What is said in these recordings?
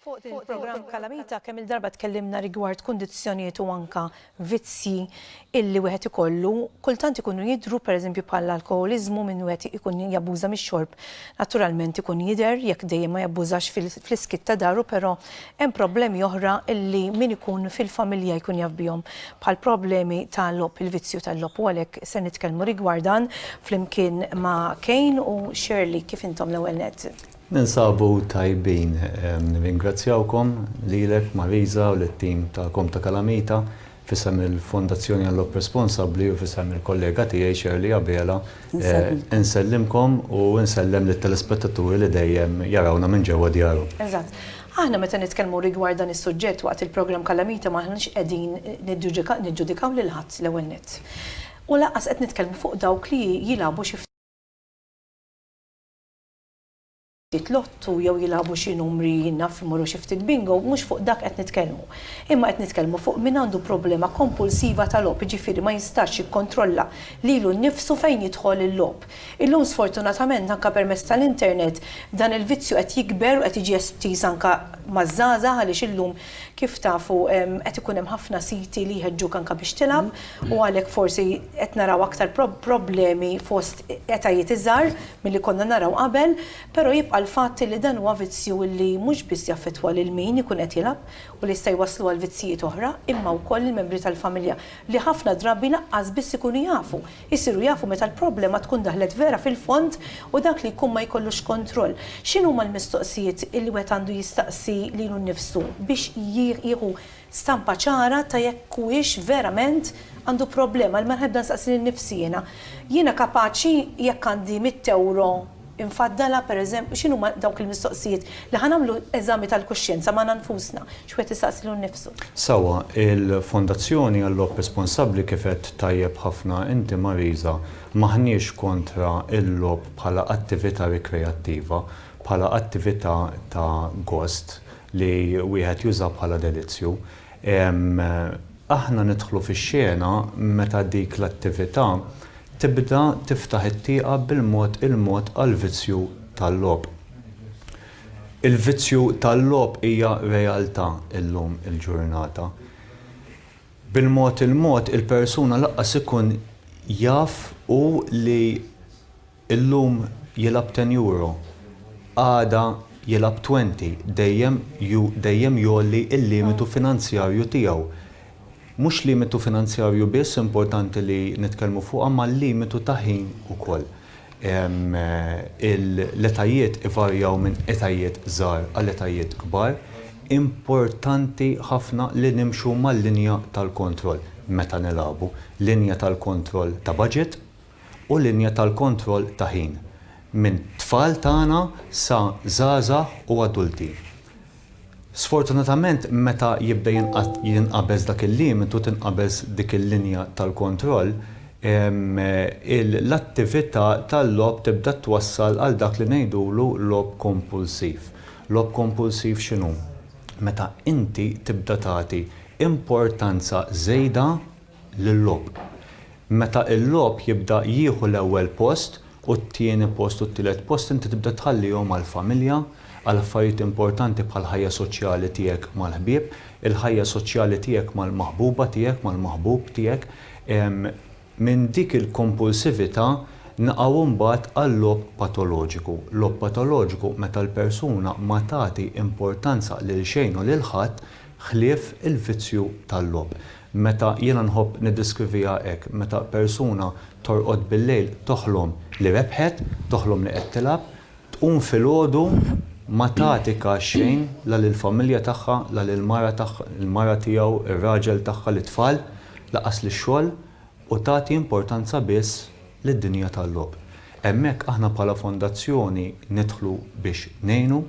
Fuq il-programm Kalamita kemm il-darba tkellimna rigward kundizzjonijiet u anka vizzji illi wieħed ikollu, kultant ikunu jidhru pereżempju bħall-alkoħoliżmu minn wieħed ikun jabbuża mix-xorb naturalment ikun jidher jekk dejjem ma jabbużax fl-iskiet ta' daru però Hemm problemi oħra li min ikun fil-familja jkun jaf bihom, bħall-problemi ta' logħob, il-vizzju tal-logħob u għalhekk se nitkellmu rigward dan flimkien ma' Cain u Shirley. Kif intom l-ewwel nett? Ninsabu tajbin. Nirringrazzjawkom, lilek Marisa u lit-tim tagħkom ta' Kalamita F'isem il-Fondazzjoni Unlock Responsabbli u f'isem il-kollega tiegħi Shirley Abela, insellimkom u nsellem lit-telespettaturi li dejjem jarawna minn ġewwa djarhom. Eżatt. Aħna meta nitkellmu rigward dan is-suġġett waqt il-programm Kalamita m'aħniex qegħdin niġġudikaw lil ħadd l-ewwel nett. U lanqas qed nitkellmu fuq dawk li jilagħbu xi. ftit lotto jew jilagħbu xi numri naf imorru xi ftit bingo, mhux fuq dak qed nitkellmu. Imma qed nitkellmu fuq min għandu problema kompulsiva ta' logħob, jiġifieri ma jistax jikkontrolla lilu nnifsu fejn jidħol il-logħob. Illum sfortunatament anke permezz tal-internet dan il-vizzju qed jikber u qed jiġi estiż anke maż-żgħażagħ għaliex illum Kif tafu qed ikun hemm ħafna siti li jħeġġuk anke biex tilgħab u għalhekk forsi qed naraw aktar problemi fost etajiet iżgħar milli konna naraw qabel, però jibqa' l-fatt li dan huwa vizzju li mhux biss jaffettwa lil min ikun qed jilgħab u li jista' jwasslu għal vizzijiet oħra imma wkoll lill-membri tal-familja li ħafna drabi lanqas biss ikunu jafu Isiru jafu meta l-problema tkun daħlet vera fil-fond u dak li jkun ma jkollux kontroll. X'inhuma l-mistoqsijiet li wieħed għandu jistaqsi lilu nnifsu biex jieħu stampa ċara ta' jekk huwiex verament għandu problema? L-ewwel ħaġa nistaqsi lil nifsi jiena, jiena kapaċi jekk għandi mitt ewro, Infaddalha, pereżempju, x'inhuma dawk il-mistoqsijiet li ħa nagħmlu eżami tal-kuxjenza magħna nfusna, xi wieħed isaqsi lilu nnifsu. Sewwa, il-Fondazzjoni għall-Logħob Responsabbli kif għedt tajjeb ħafna inti Marisa, m'aħniex kontra l-logħob bħala attività rikreattiva, bħala attività ta' gost li wieħed juża bħala delizzju. Aħna nidħlu fix-xena meta dik l-attività Tibda tiftaħ it-tieqa bil-mod il-mod għall-vizzju tal-logħob. Il-vizzju tal-logħob hija realtà llum il-ġurnata. Bil-mod il-mod il-persuna lanqas ikun jaf hu li llum jilgħab ten euro, għada jilgħab twenty, dejjem dejjem jgħolli l-limitu finanzjarju tiegħu. Mhux limitu finanzjarju biss importanti li nitkellmu fuqha imma limitu ta' ħin ukoll. L-etajiet ivarjaw minn etajiet żgħar għal etajiet kbar. Importanti ħafna li nimxu mal-linja tal-kontroll meta nilagħbu, linja tal-kontroll ta' baġit u linja tal-kontroll ta' ħin, minn tfal tagħna sa żgħażagħ u adulti. Sfortunatament meta jibda jinqabeż dak il-limitu, tinqabeż dik il-linja tal-kontroll, l-attività tal-logħob tibda twassal għal dak li ngħidulu logħob kompulsiv. Logħob kompulsiv x'inhu? Meta inti tibda tagħti importanza żejda, lil-logħob. Meta l-logħob jibda jieħu l-ewwel post u t-tieni post u t-tielet post inti tibda tħallihom għall-familja, għal affarijiet importanti bħall-ħajja soċjali tiegħek mal-ħbieb, il-ħajja soċjali tiegħek mal-maħbuba tiegħek, mal-maħbub tiegħek. Minn dik il-kompulsività naqgħu mbagħad għal-logħob patoloġiku. Logħob patoloġiku meta l-persuna ma tagħti importanza lil xejn u lil ħadd ħlief il-vizzju tal-logħob. Meta, jiena nħobb niddeskriviha hekk, meta persuna torqod bil-lejl toħlom li rebħet, toħlom li qed tilgħab, tqum filgħodu ma tagħtika xejn la lill-familja tagħha, la lill-mara tagħha, il-mara tiegħu, ir-raġel tagħha, lit-tfal, lanqas lix-xogħol, u tagħti importanza biss lid-dinja tal-logħob. Hemmhekk aħna bħala fondazzjoni nidħlu biex ngħinu,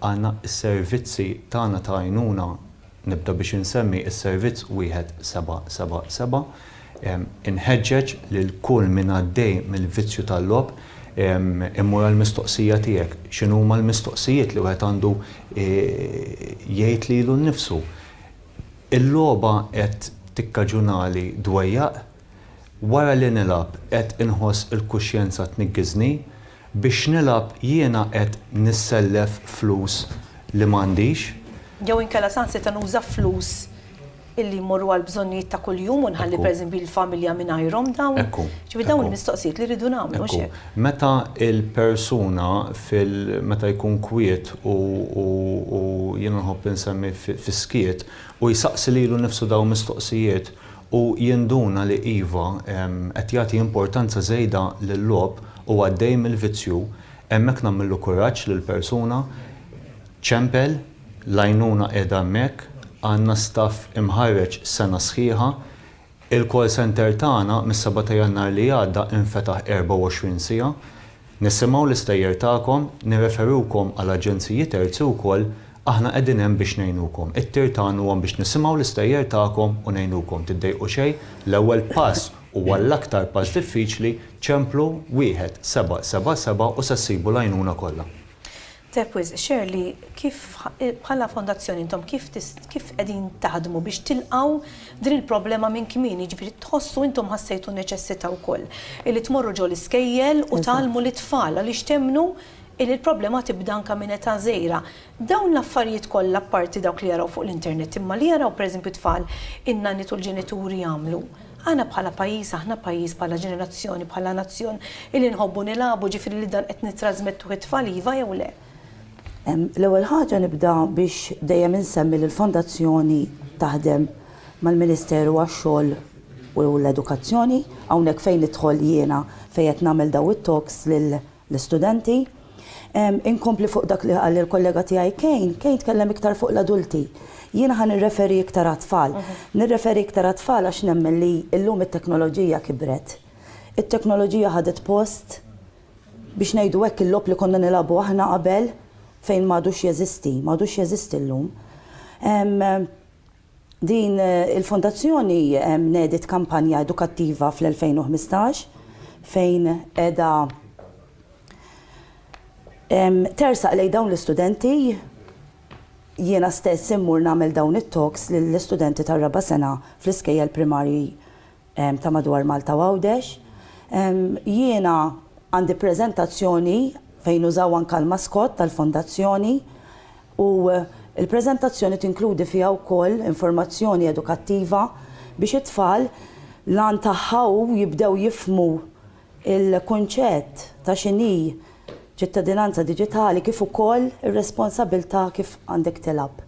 għandna s-servizzi tagħna ta' għajnuna nibda biex insemmi s-servizz 1777. Inħeġġeġ lil kull min għaddej mill-vizzju tal-logħob immur għall-mistoqsija tiegħek, x'inhuma l-mistoqsijiet li wieħed għandu jgħid lilu nnifsu? Il-logħba qed tikkaġunali dwejjaq? Wara li nilgħab qed inħoss il-kuxjenza tniggiżni? Biex nilgħab jiena qed nissellef flus li m'għandix? Jew inkella saħansitra nuża flus illi jmorru għal bżonnijiet ta' kuljum u nħalli pereżempju l-familja mingħajrhom dawn? Ġifieri dawn il-mistoqsijiet li rridu nagħmlu, mhux hekk? Meta l-persuna fil-, meta jkun kwiet u jiena nħobb insemmi fis-skiet, u jsaqsi lilu nnifsu dawn mistoqsijiet, u jinduna li iva, qed jagħti importanza żejda lil-logħob u għaddej mill-vizzju, hemmhekk nagħmillu kuraġġ lill-persuna, ċempel, l-għajnuna qiegħda hemmhekk, għandna staff imħarreġ sena sħiħa, il-call centre tagħna mis-seba' ta' Jannar li għadda infetaħ 24 siegħa, Nissimgħu l-istejjer tagħkom, nirreferukom għal aġenziji terzi wkoll, aħna qegħdin hemm biex ngħinukom. It-tir tagħna huwa biex nisimgħu l-istejjer tagħkom u ngħinukom. Tiddejqu xejn, l-ewwel pass huwa l-aktar pass diffiċli, ċemplu 1777 u se ssibu l-għajnuna kollha. Tajjeb wisq, share li kif bħala fondazzjoni intom kif kif qegħdin taħdmu biex tilqgħu din il-problema minn kmieni, jiġifieri tħossu intom ħassejtu n-neċessità wkoll illi tmorru ġo l-iskejjel u tgħallmu lit-tfal għaliex temmnu illi l-problema tibda anke minn età żgħira. Dawn l-affarijiet kollha apparti dawk li jaraw fuq l-internet imma li jaraw pereżempju t-tfal in-nanniet u l-ġenituri jagħmlu, Aħna bħala pajjiż, aħna pajjiż bħala ġenerazzjoni, bħala nazzjon illi nħobbu nilagħbu, ġifieri li dan qed nittrasmettuh it-tfal iva jew le? L-ewwel ħaġa nibda biex dejjem insemmi li l-Fondazzjoni taħdem mal-Ministeru għax-Xogħol u l-Edukazzjoni, hawnhekk fejn nidħol jiena fejn qed nagħmel dawn it-talks lil l-istudenti. Inkompli fuq dak li qal il-kollega tiegħi Kane, Kane tkellem iktar fuq l-adulti. Jiena ħa nirreferi iktar għat-tfal. Nirreferi iktar għat-tfal għax nemmen li llum it-teknoloġija kibret. It-teknoloġija ħadet post, biex ngħidu hekk, il-logħob li konna nilagħbu aħna qabel fejn m'għadux jeżisti, m'għadux jeżisti llum. Din il-Fondazzjoni nediet kampanja edukattiva fl-2015 fejn qiegħda tersaq lejn dawn l-istudenti. Jiena stess immur nagħmel dawn it-talks lill-istudenti tar-raba' sena fl-iskejjel primarji ta' madwar Malta u Għawdex. Jiena għandi preżentazzjoni fejn użaw anke l-maskott tal-Fondazzjoni u l-preżentazzjoni tinkludi fiha wkoll informazzjoni edukattiva biex it-tfal l-għan tagħha hu jibdew jifhmu il-kunċett ta' x'inhi ċittadinanza diġitali kif ukoll ir-responsabilità kif għandek tilgħab.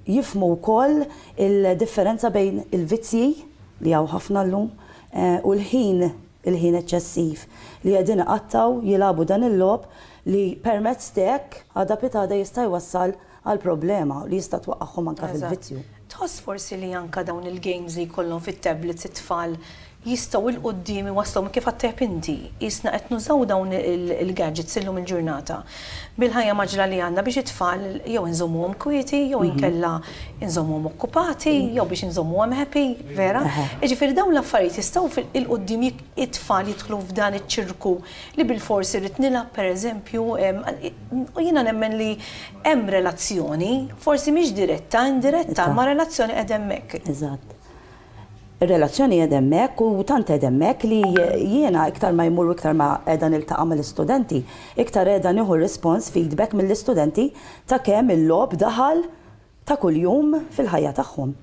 Jifhmu wkoll il-differenza bejn il-vizzji, li hawn ħafna llum, u l-ħin, il-ħin eċċessiv, li qegħdin iqattgħu, jilagħbu dan il-logħob li permezz t'hekk għada pitgħada jista' jwassal għal problema li jista' twaqqagħhom anke fil-vizzju. Tħoss forsi li anke dawn il-games li jkollhom fit-tablets it-tfal jistgħu 'l quddiem iwasslhom kif għad tajjeb inti, qisna qed nużaw dawn il-gadgets illum il-ġurnata bil-ħajja mgħaġġla li għandna biex it-tfal jew inżommuhom kwieti jew inkella inżommuhom okkupati jew biex inżommuhom happy, vera? Jiġifieri dawn l-affarijiet jistgħu 'l quddiem it-tfal jidħlu f'dan iċ-ċirku li bilfors irrid nilgħab pereżempju U jiena nemmen li hemm relazzjoni, forsi mhix diretta, indiretta, imma relazzjoni qiegħda hemmhekk. Eżatt. Ir-relazzjoni qiegħda hemmhekk u tant qiegħda hemmhekk li jiena iktar ma jmur u iktar ma qiegħda niltaqa' mal-istudenti, iktar qiegħda nieħu rispons, feedback mill-istudenti ta' kemm il-logħob daħal ta' kuljum fil-ħajja tagħhom.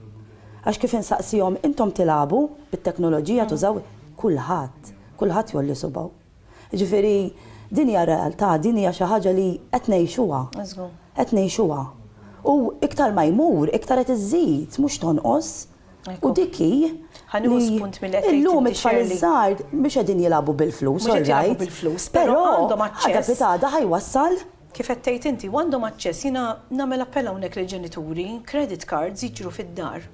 Għax kif insaqsihom, intom tilagħbu bit-teknoloġija, tużaw, kulħadd, kulħadd jgħolli subgħu. Jiġifieri din hija r-realtà, din hija xi ħaġa li qed ngħixuha. Żgur. Qed ngħixuha. U iktar ma jmur, iktar qed iżżid, mhux tonqos. U dik hi li. Ħa nieħu spunt mill-li qed tgħid inti, Shirley. Illum it-tfal iż-żgħar mhux qegħdin jilagħbu bil-flus, all right. Mhux qed jilagħbu bil-flus, però għandhom aċċess. Għada pitada ħa jwassal Kif qed tgħid inti, u għandhom aċċess, jiena nagħmel appell hawnhekk lill-ġenituri, credit cards jiġru fid-dar.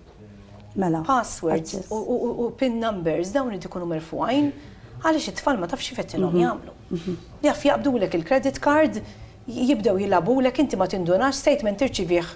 Mela. Passwords u pin numbers dawn irid ikunu merfugħin għaliex it-tfal ma tafx kif qed tilhom mhm. jagħmlu. Mhm. Jaf jaqbdulek il-credit card, jibdew jilagħbulek inti ma tindunax statement tirċivih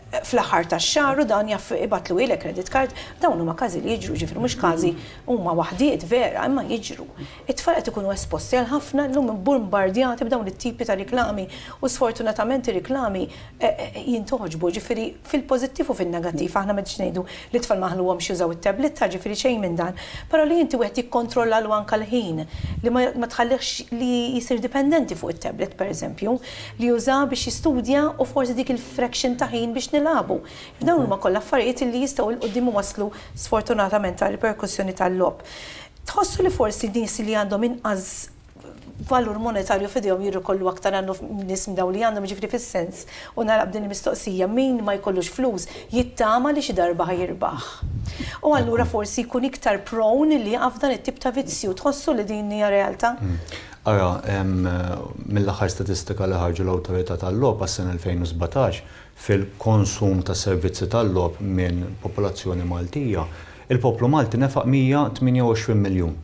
fl-aħħar tax-xahar u dan jaf ibatlu ilek credit card, dawn huma każi li jiġru ġifri mhux każi huma waħdiet vera imma jiġru. It-tfal qed ikunu esposti għal ħafna llum bombardjati b'dawn it-tipi ta' riklami u sfortunatament ir-riklami jintoġbu, ġifieri fil-pożittiv u fin-negattiv. Aħna m'għedniex ngħidu li t-tfal ma nħalluhomx jużaw it-tabletta, ġifieri xejn minn dan. Però li inti wieħed jikkontrollalu anke l-ħin, li ma tħallihx li jsir dipendenti fuq it-tablet pereżempju, li jużah biex jistudja u forsi dik il-fraction ta' ħin biex nilagħbu. Dawn huma kollha affarijiet li jistgħu 'l quddiem iwasslu sfortunatament għal riperkussjoni tal-logħob. Tħossu li forsi nies li għandhom inqas valur monetarju f'idejhom jirrikollu aktar għal nies minn dawn li għandhom, jiġifieri fis-sens, u nagħlaq b'din il-mistoqsija, min ma jkollux flus jittama li xi darba ħa jirbaħ. U allura forsi jkun iktar prone li jaqa' f'dan it-tip ta' vizzju. Tħossu li din hija realtà? Ara, mill-aħħar statistika li ħarġu l-Awtorità tal-Logħob għas-sena 2017, fil-konsum ta' servizzi tal-logħob minn popolazzjoni Maltija, il-poplu Malti nefaq 128 miljun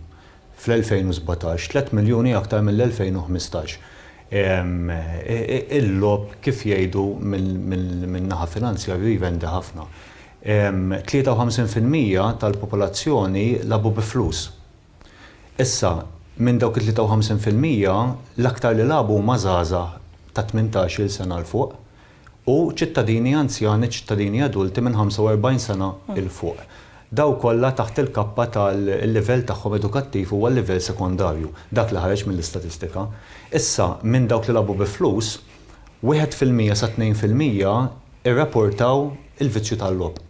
fl-2017, tliet miljuni aktar mill-2015. Il-logħob kif jgħidu minn naħa finanzjarju jvendi ħafna. 53 fil-mija tal-popolazzjoni lagħbu bi flus. Issa, minn dawk it-53 fil-mija, l-aktar li lagħbu huma żgħażagħ ta' tmintax-il sena 'l fuq u ċittadini anzjani, ċittadini adulti minn 45 sena 'l fuq. Dawn kollha taħt il-kappa tal-livell tagħhom edukattiv huwa l-livell sekondarju, dak li ħareġ mill-istatistika. Issa, minn dawk li lagħbu bi flus, wieħed fil-mija sa tnejn fil-mija irrapportaw il-vizzju tal-logħob.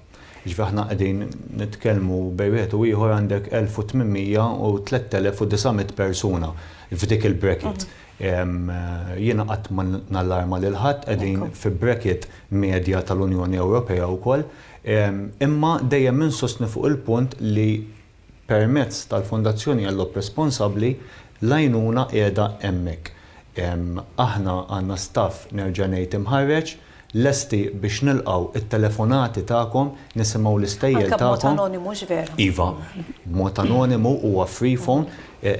Jiġifieri aħna qegħdin nitkellmu bejn wieħed u ieħor għandek 1,800 u 3,900 persuna f'dik il-bracket. Jiena qatt ma nallarma lil ħadd, qegħdin fi bracket medja tal-Unjoni Ewropea wkoll. Imma dejjem insostni fuq il-punt li Permezz tal-Fondazzjoni għall-Logħob Responsabbli, l-għajnuna qiegħda hemmhekk. Aħna għandna staff, nerġa' ngħid, imħarreġ, lesti biex nilqgħu t-telefonati tagħkom, nisimgħu l-istejjer tagħkom. Anke b'mod anonimu, hux vera? Iva, b'mod anonimu, huwa free phone,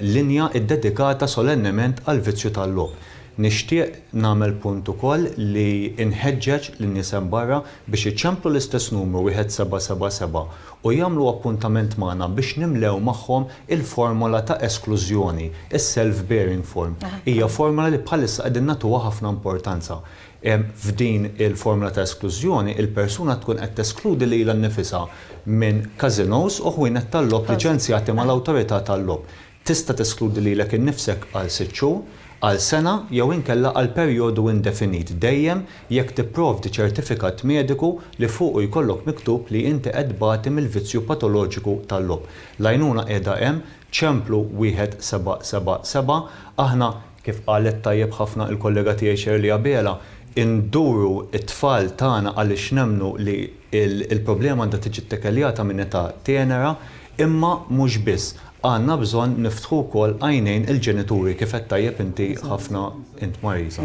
linja ddedikata solennement għall-vizzju tal-logħob. Nixtieq nagħmel punt ukoll li nħeġġeġ lin-nies hemm barra biex iċemplu l-istess numru wieħed seba' seba' seba' u jagħmlu appuntament magħna biex nimlew magħhom il-formola ta' esklużjoni, is-self-bearing form. Hija formola li bħalissa qegħdin nagħtuha ħafna importanza. F'din il-formola ta' esklużjoni, il-persuna tkun qed teskludi lilha nnifisha minn casinos u ħwienet tal-logħob liċenzjati mal-awtorità tal-logħob. Tista' teskludi lilek innifsek għal sitt xhur, għal sena jew inkella għal perjodu indefinit dejjem jekk tipprovdi ċertifikat mediku li fuqu jkollok miktub li inti qed tbati mill-vizzju patoloġiku tal-logħob. L-għajnuna qiegħda hemm, Ċemplu 1777, aħna, kif qalet tajjeb ħafna il-kollega tiegħi Shirley Abela, induru t-tfal tagħna għaliex nemmnu li Il-problema għandha tiġi ttekeljata minn età tenera, imma mhux biss. Għandna bżonn niftħu wkoll għajnejn il-ġenituri, kif għedt tajjeb inti ħafna int Marisa.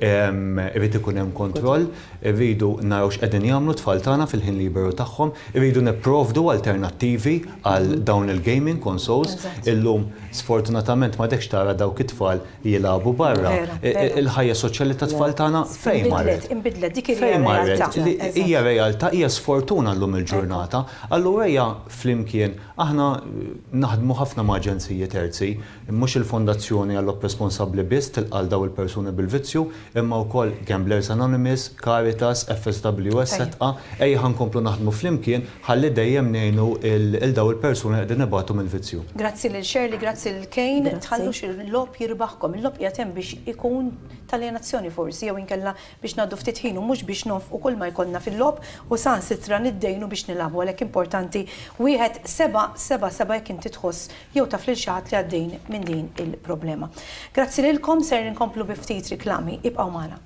Irid ikun hemm kontroll, irridu naraw x'qegħdin jagħmlu t-tfal tagħna fil-ħin liberu tagħhom, irridu nipprovdu alternattivi għal dawn il-gaming consoles. Illum sfortunatament m'għadekx tara dawk it-tfal jilagħbu barra. Il-ħajja soċjali tat-tfal tagħna fejn marret? Fejn marret? Hija realtà, hija sfortuna llum il-ġurnata. Allura ejja flimkien, aħna naħdmu ħafna ma' aġenziji terzi, mhux il-Fondazzjoni għall-Opp Responsabbli biss tilqa' lil dawn il-persuni bil-vizzju, imma wkoll Gamblers Anonymous, Caritas, FSW, esetqa, ejja ħa nkomplu naħdmu flimkien ħalli dejjem ngħinu lil dawn il-persuni li qegħdin ibatu mill-vizzju. Grazzi lil Shirley, grazzi lil Cain, tħallux il-logħob jirbaħkom, il-logħob qiegħed hemm biex ikun t'aljenazzjoni forsi jew inkella biex ngħaddu ftit ħin u mhux biex nonfqu kull ma jkollna fil-logħob u saħansitra niddejnu biex nilagħbu għalhekk importanti wieħed seba' seba' seba' jekk inti tħoss jew taf lil xi ħadd li għaddejn minn din il-problema. Grazzi lilkom, ser inkomplu bi ftit riklami, ibqgħu magħna.